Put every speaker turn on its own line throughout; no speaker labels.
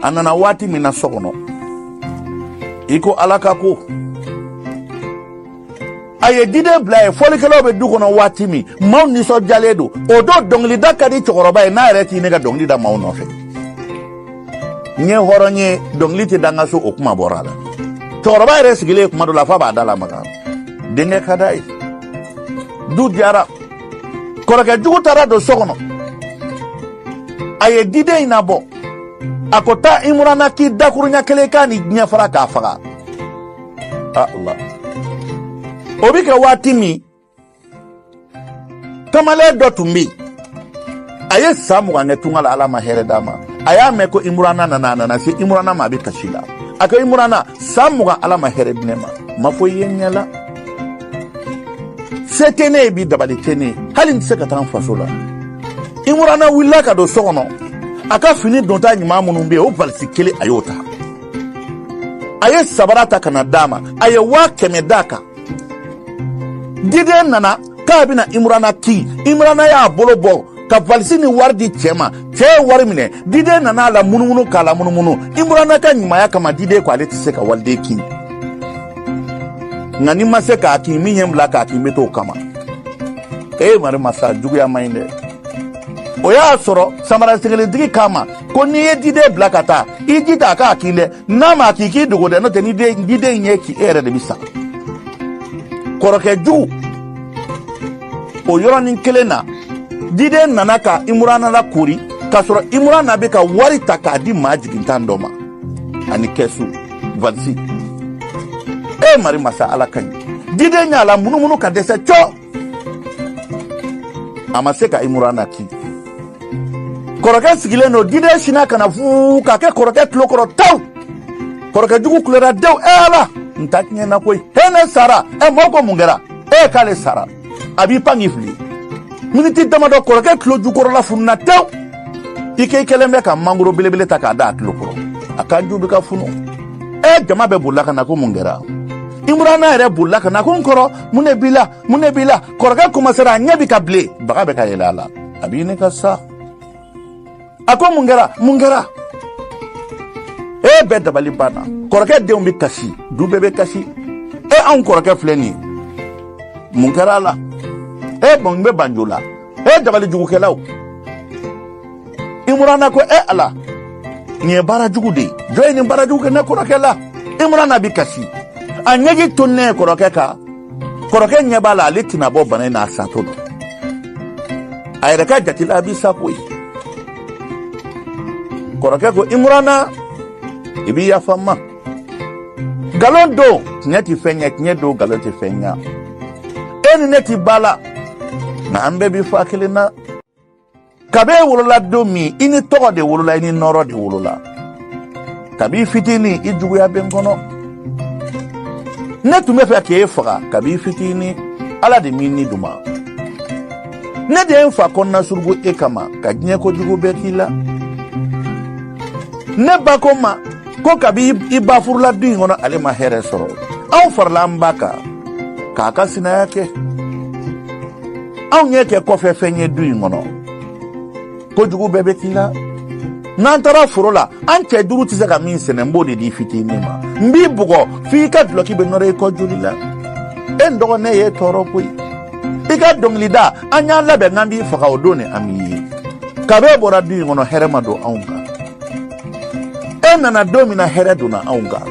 a nana waati min na so kɔnɔ i ko ala ka ko a ye diden bila yen fɔlikɛlaw bɛ du kɔnɔ waati min maaw nisɔndiyalen don o don dɔnkilida ka di cɛkɔrɔba ye n'a yɛrɛ t'i ne ka dɔnkili da maaw nɔfɛ n ye hɔrɔn ye dɔnkili tɛ da n ka so o kuma bɔra a la cɛkɔrɔba yɛrɛ sigilen kuma dɔ la f'a b'a da lamaga denkɛ ka d'a ye du diyara kɔrɔkɛjugu taara don so kɔnɔ a ye diden in nabɔ a ko taa imurana kin dakurunya kelen k'a ni diɲɛ fara k'a faga ala o bɛ kɛ waati min kamalen dɔ tun bɛ yen a ye san mugan kɛ tunga la ala ma hɛrɛ d'a ma a y'a mɛn ko imurana nana a nana se imurana ma a bɛ kasi la a ko imurana san mugan ala ma hɛrɛ di ne ma n ma foyi ye n ɲɛ la se tɛ ne ye bi dabali tɛ ne ye hali n tɛ se ka taa n faso la imurana wulila ka don so kɔnɔ a ka fini donta ɲuman minnu bɛ yen o valisi kelen a y'o ta a ye sabara ta ka na d'a ma a ye waa kɛmɛ d'a kan diden nana k'a bɛna imurana kin imurana y'a bolo bɔ ka valisi ni wari di cɛ ma cɛ ye wari minɛ diden nana a la munumunu k'a la munumunu imurana ka ɲumaya kama diden ko ale tɛ se ka waliden kin nka ni n ma se k'a kin min ye n bila k'a kin n bɛ t'o kama ee mari masa juguya man ɲi dɛ o y'a sɔrɔ samarasenkelentigi k'a ma ko n'i ye diden bila ka taa i jija a k'a kin dɛ n'a m'a kin i k'i dogo dɛ n'o tɛ ni diden y'i kin e yɛrɛ de bɛ sa kɔrɔkɛ jugu o yɔrɔnin kelen na diden nana ka imurana lakoori k'a sɔrɔ imurana bɛ ka wari ta k'a di maa jigintan dɔ ma ani kɛsu valisi e mari masa ala ka ɲi diden y'a la munumunu ka dɛsɛ cɔ a ma se ka imurana kin kɔrɔkɛ sigilen don diden sina ka na fuu k'a kɛ kɔrɔkɛ tulo kɔrɔ taw kɔrɔkɛ jugu kulera dew e ala n ta tiɲɛna koyi he ne sara ɛ mɔɔ ko mun kɛra e k'ale sara a b'i pan k'i fili miniti dama dɔ kɔrɔkɛ tulo jukɔrɔla fununa tew i k'i kɛlen bɛ ka mangoro belebele ta k'a da a tulo kɔrɔ a kanju bɛ ka funu e jama bɛɛ bolila ka na ko mun kɛra imurana yɛrɛ bolila ka na ko n kɔrɔ mun de b'i la mun de b'i la kɔrɔkɛ kuma sara a ɲɛ bɛ ka bilen baga bɛ ka yɛlɛ a la a bɛ ɲini ka sa a ko mun kɛra mun kɛra e bɛɛ dabali banna kɔrɔkɛ denw bɛ kasi du bɛɛ bɛ kasi e anw kɔrɔkɛ filɛ nin ye mun kɛra a la e bɔn n bɛ banjo la e dabali jugukɛlaw imurana ko e ala nin ye baara jugu de ye jɔn ye nin baara jugu kɛ ne kɔrɔkɛ la imurana bi kasi a ɲɛji toni kɔrɔkɛ kan kɔrɔkɛ ɲɛ b'a la ale tɛna bɔ bana in na a satɔ don a yɛrɛ ka jate la a bi sa koyi kɔrɔkɛ ko imurana i bi yafa n ma nkalon don tiɲɛ tɛ fɛn ɲɛ tiɲɛ don nkalon tɛ fɛn ɲɛ e ni ne tɛ ba la nka an bɛɛ bɛ fa kelen na kabi e wolola don min i ni tɔgɔ de wolola i ni nɔrɔ de wolola kabi fitinin i juguya bɛ n kɔnɔ ne tun b'a fɛ k'e faga kabi fitinin ala de m'i ni di n ma ne de ye n fa kɔnɔna surugu e kama ka diɲɛ kojugu bɛɛ k'i la ne ba ko n ma ko kabi i ba furula du in kɔnɔ ale ma hɛrɛ sɔrɔ anw farila an ba kan k'a ka sinaya kɛ anw y'e kɛ kɔfɛ fɛn ye du in kɔnɔ kojugu bɛɛ bɛ k'i la n'an taara foro la an cɛ duuru tɛ se ka min sɛnɛ n b'o de d'i fitinin ma n b'i bugɔ f'i ka dulɔki bɛ nɔrɔ i kɔ joli la e n dɔgɔ ne y'i tɔɔrɔ koyi i ka dɔnkilida an y'an labɛn k'an b'i faga o don ni an bi ye kab'e bɔra du in kɔnɔ hɛrɛ ma don anw kan e nana don min na hɛrɛ donna anw kan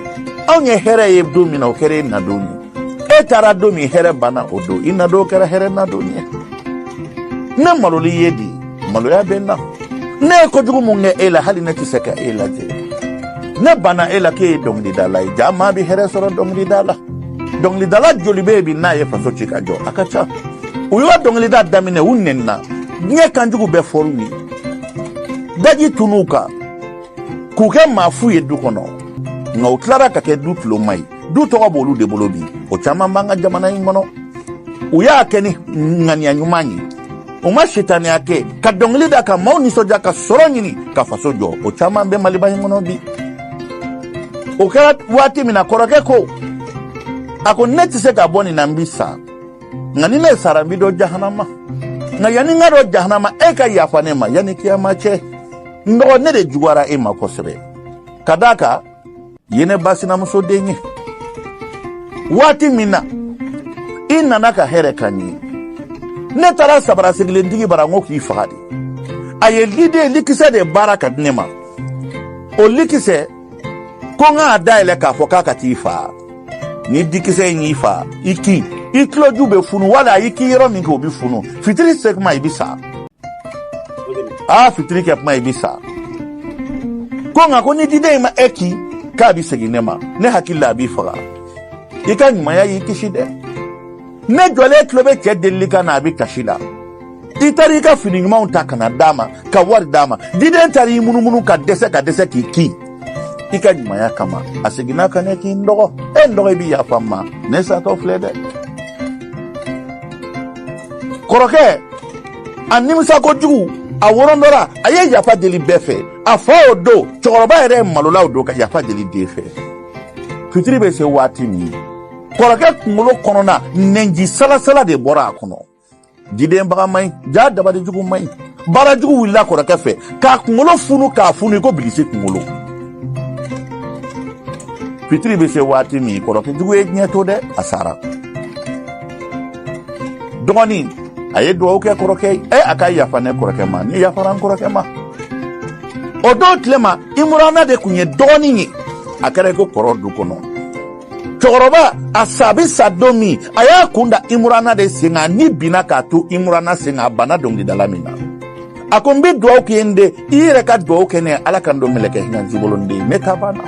anw ye hɛrɛ ye don min na o kɛra e nadon ye e taara don min hɛrɛ banna o don i nadon kɛra hɛrɛ nadon ye ne malolen ye dɛ maloya bɛ n na ne ye kojugu min kɛ e la hali ne tɛ se ka e lajɛ ne banna e la k'e ye dɔnkilidala ye jaa maa bɛ hɛrɛ sɔrɔ dɔnkilida la dɔnkilidala joli bɛ yen bi n'a ye faso ci ka jɔ a ka ca u y'o dɔnkilida daminɛ u nɛnina diɲɛ kanjugu bɛɛ fɔr'u ye daji tun'u kan k'u kɛ maa fu ye du kɔnɔ nka u tilara ka kɛ du tuloma ye du tɔgɔ b'olu de bolo bi o caman b'an ka jamana in kɔnɔ u y'a kɛ ni ŋaniya ɲuman ye u ma sitaniya kɛ ka dɔngili da ka maaw nisɔndiya ka sɔrɔ ɲini ka faso jɔ o caman bɛ maliba in kɔnɔ bi o kɛra waati min na kɔrɔkɛ ko a ko ne tɛ se ka bɔ nin na n bi sa nka ni ne sara n bɛ don jahanama nka yanni n ka don jahanama e ka yafa ne ma yanni kiyama cɛ n dɔgɔ ne de juguyara e ma kosɛbɛ ka d'a kan e ye ne ba sinamuso den ye waati min na i nana ka hɛrɛ ka ɲi ne taara sabara sirilentigi bara n ko k'i faga dɛ a ye liden likisɛ de baara ka di ne ma o likisɛ ko n k'a dayɛlɛ k'a fɔ k'a ka t'i faa ni dikisɛ in y'i faa i kin i tuloju bɛ funu wala i k'i yɔrɔ min kin o bɛ funu fitiri se kuma i bɛ sa aa fitiri kɛ kuma i bɛ sa ko nka ko ni diden in ma e kin k'a bɛ segin ne ma ne hakili la a b'i faga i ka ɲumanya y'i kisi dɛ ne jɔlen tulo bɛ cɛ delili kan na a bɛ kasi la i taara i ka fini ɲumanw ta ka na d'a ma ka wari d'a ma diden taara i munumunu ka dɛsɛ ka dɛsɛ k'i kin i ka ɲumanya kama a seginna ka ne k'i n dɔgɔ e n dɔgɔ i bɛ yafa n ma ne satɔ filɛ dɛ kɔrɔkɛ a nimisa kojugu a worondɔra a ye yafa deli bɛɛ fɛ a fa o don cɛkɔrɔba yɛrɛ malola o don ka yafa deli den fɛ fitiri bɛ se waati min kɔrɔkɛ kunkolo kɔnɔna nɛnji salasala de bɔra a kɔnɔ diden baga man ɲi ja dabali jugu man ɲi baara jugu wulila kɔrɔkɛ fɛ k'a kunkolo funu k'a funu i ko bilisi kunkolo fitiri bɛ se waati min kɔrɔkɛ jugu ye diɲɛ to dɛ a sara dɔgɔnin a ye dugawu kɛ kɔrɔkɛ ye ɛ a ka yafa ne kɔrɔkɛ ma ne yafara n kɔrɔkɛ ma o don tile ma imurana de tun ye dɔgɔnin ye a kɛra i ko kɔrɔ du kɔnɔ cɛkɔrɔba a sa bɛ sa don min a y'a kun da imurana de sen kan ni binna k'a to imurana sen kan a banna dɔnkilidala min na a ko n bɛ dugawu k'i ye n den i yɛrɛ ka dugawu kɛ ne ye ala ka n don mɛlɛkɛ hinɛnci bolo n den ne ta banna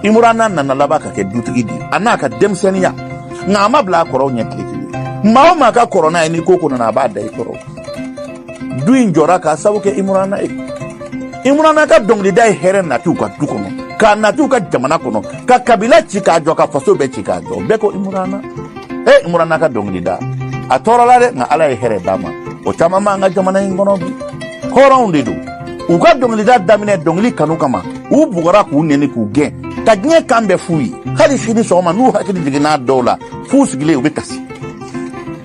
imurana nana laban ka kɛ dutigi di a n'a ka denmisɛnninya nka a ma bila a kɔrɔw ɲɛ tile kelen maa o maa ka kɔrɔ n'a ye ni ko ko nana a b'a da i kɔrɔ du in jɔra k'a sabu kɛ imurana ye imurana ka dɔnkilida ye hɛrɛ nati u ka du kɔnɔ k'a nati u ka jamana kɔnɔ ka kabila ci k'a jɔ ka faso bɛɛ ci k'a jɔ bɛɛ ko imurana e imurana ka dɔnkilida a tɔɔrɔla dɛ nka ala ye hɛrɛ d'a ma o caman b'an ka jamana in kɔnɔ bi hɔrɔnw de don u ka dɔnkilida daminɛ dɔnkili kanu kama u bugɔra k'u neni k'u gɛn ka diɲɛ kan bɛɛ f'u ye hali sini sɔgɔma n'u hakili jiginn'a dɔw la f'u sigilen u bɛ kasi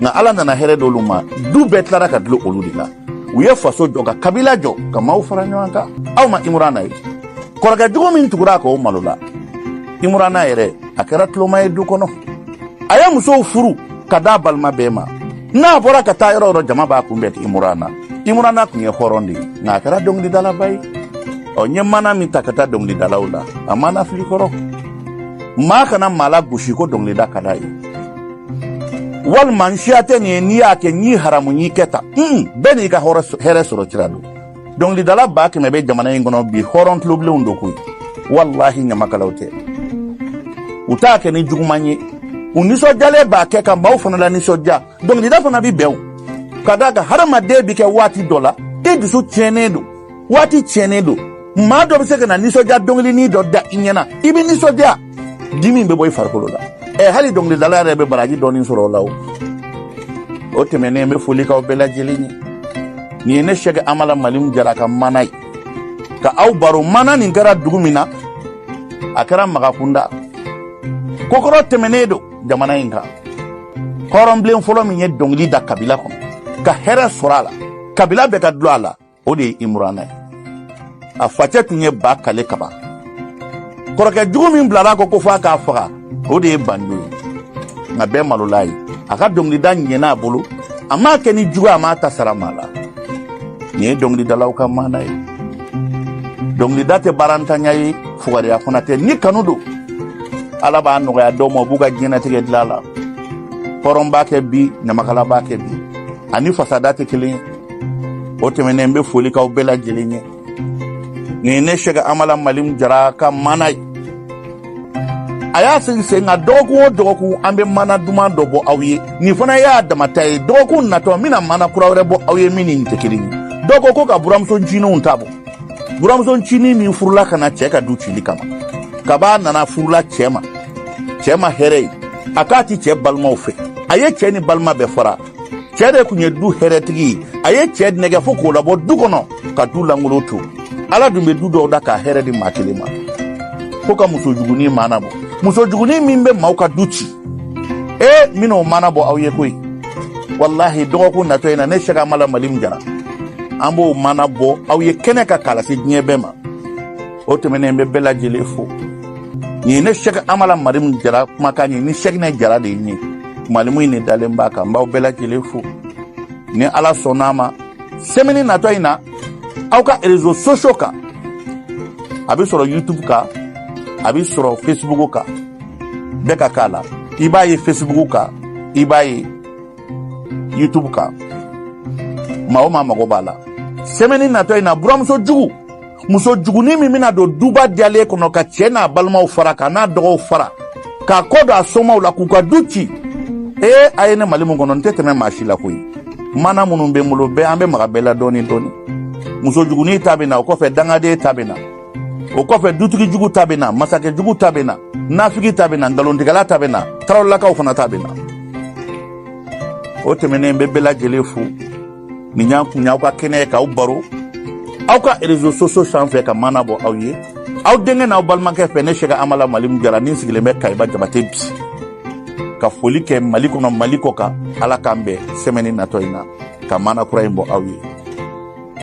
nka ala nana hɛrɛ d'olu ma du bɛɛ tilara ka dulon olu de la u ye faso jɔ ka kabila jɔ ka maaw fara ɲɔgɔn kan aw ma imurana ye kɔrɔkɛ jugu min tugura a kan o malola imurana yɛrɛ a kɛra tuloma ye du kɔnɔ a ye musow furu ka da balima bɛɛ ma n'a bɔra ka taa yɔrɔ yɔrɔ jama b'a kunbɛn imurana imurana tun ye hɔrɔn de ye nka a kɛra dɔnkilidalaba ye ɔ n ye maana min ta ka taa dɔnkilidalaw la a maana fili kɔrɔ maa kana maa lagosi ko dɔnkilida ka d'a ye walima n siya tɛ nin ye n'i y'a kɛ n y'i haramu n y'i kɛ tan bɛɛ n'i ka hɛrɛ sɔrɔ sira don dɔnkilidala ba kɛmɛ bɛ jamana in kɔnɔ bi hɔrɔn tulobilenw don koyi walahi ɲamakalaw tɛ u t'a kɛ ni juguman ye u nisɔndiyalen b'a kɛ ka maaw fana lanisɔndiya dɔnkilida fana bɛ bɛn o k'a d'a kan hadamaden bɛ kɛ waati dɔ la i dusu tiɲɛnen don waati tiɲɛnen don maa dɔ bɛ se ka na nisɔndiya dɔnkilinin dɔ da i ɲɛ na i bɛ nisɔndiya dimi bɛ bɔ i farikolo la ɛ hali dɔnkilidala yɛrɛ bɛ baraji dɔɔnin sɔrɔ o la o o tɛmɛnen n bɛ foli k'aw bɛɛ lajɛlen ye nin ye ne sɛgɛ amala malimu jara ka maana ye ka aw baro maana nin kɛra dugu min na a kɛra magakunda kokɔrɔ tɛmɛnen don jamana in kan hɔrɔnbilen fɔlɔ min ye dɔnkili da kabila kɔnɔ ka hɛrɛ sɔrɔ a la kabila bɛɛ ka dulon a la o de ye imurana ye a facɛ tun ye ba kale kaban kɔrɔkɛ jugu min bilara a kɔ ko fo a k'a faga o de ye bando ye nka bɛɛ malola ye a ka dɔnkilida ɲɛna a bolo a m'a kɛ ni jugu a m'a ta sara maa la nin ye dɔnkilidalaw ka maana ye dɔnkilida tɛ baarantanya ye fugariya fana tɛ ni kanu don ala b'a nɔgɔya dɔw ma u b'u ka diɲɛnatigɛ dila la hɔrɔn b'a kɛ bi ɲamakala b'a kɛ bi a ni fasada tɛ kelen ye o tɛmɛnen n bɛ foli k'aw bɛɛ lajɛlen ye nin ye ne sɛgɛ amala malimu jara ka maana ye an y'a sigi sen kan dɔgɔkun o dɔgɔkun an bɛ maana duman dɔ bɔ aw ye nin fana y'a damata ye dɔgɔkun natɔ n bɛna maana kura wɛrɛ bɔ aw ye min ni nin tɛ kelen ye dɔw ko ko ka buranmuso ncininw ta bɔ buranmuso ncinin min furula ka na cɛ ka du cili kama kab'a nana furula cɛ ma cɛ ma hɛrɛ ye a k'a tɛ cɛ balimaw fɛ a ye cɛ ni balima bɛɛ fara cɛ de tun ye du hɛrɛtigi ye a ye cɛ nɛgɛ fo k'o labɔ du kɔnɔ ka du lankolon to ala dun bɛ du dɔw da k'a hɛrɛ di maa kelen ma fo ka muso jugunin maana bɔ muso jugunin min bɛ maaw ka du ci ee n bɛn'o maana bɔ aw ye koyi walahi dɔgɔkun natɔ in na ne sɛgɛ amala malimu jara an b'o maana bɔ aw ye kɛnɛ kan k'a lase diɲɛ bɛɛ ma o tɛmɛnen n bɛ bɛɛ lajɛlen fo nin ye ne sɛgɛ amala malimu jara kumakan ye ni sɛginɛ jara de ye malimu in de dalen b'a kan n b'aw bɛɛ lajɛlen fo ni ala sɔnna a ma sɛmɛni natɔ in na aw ka rezo sosio kan a bɛ sɔrɔ youtube kan a bɛ sɔrɔ facebook kan bɛɛ ka k'a la i b'a ye facebook kan i b'a ye youtube kan maa o maa mago b'a la sɛmɛni natɔ in na buranmuso jugu muso jugunin min bɛna don duba diyalen kɔnɔ ka cɛ n'a balimaw fara k'a n'a dɔgɔw fara k'a kɔ don a somaw la k'u ka du ci ee a ye ne malimu kɔnɔ n tɛ tɛmɛ maa si la koyi maana minnu bɛ n bolo bɛɛ an bɛ maga bɛɛ la dɔɔni dɔɔni muso jugunin ta bɛ na o kɔfɛ dangaden ta bɛ na o kɔfɛ dutigi jugu ta bɛ na masakɛ jugu ta bɛ na nafigi ta bɛ na nkalontigɛla ta bɛ na tarawelelakaw fana ta bɛ na o tɛmɛnen n bɛ bɛɛ lajɛlen fo nin y'an kun aw ka kɛnɛ ye k'aw baro aw ka rezo sosio sanfɛ ka maana bɔ aw ye aw denkɛ n'aw balimakɛ fɛ ne sɛgɛ amala malimu jara n sigilen bɛ kayiba jabate bi ka foli kɛ mali kɔnɔ mali kɔkan ala k'an bɛn sɛmɛni natɔ in na ka maana kura in bɔ aw ye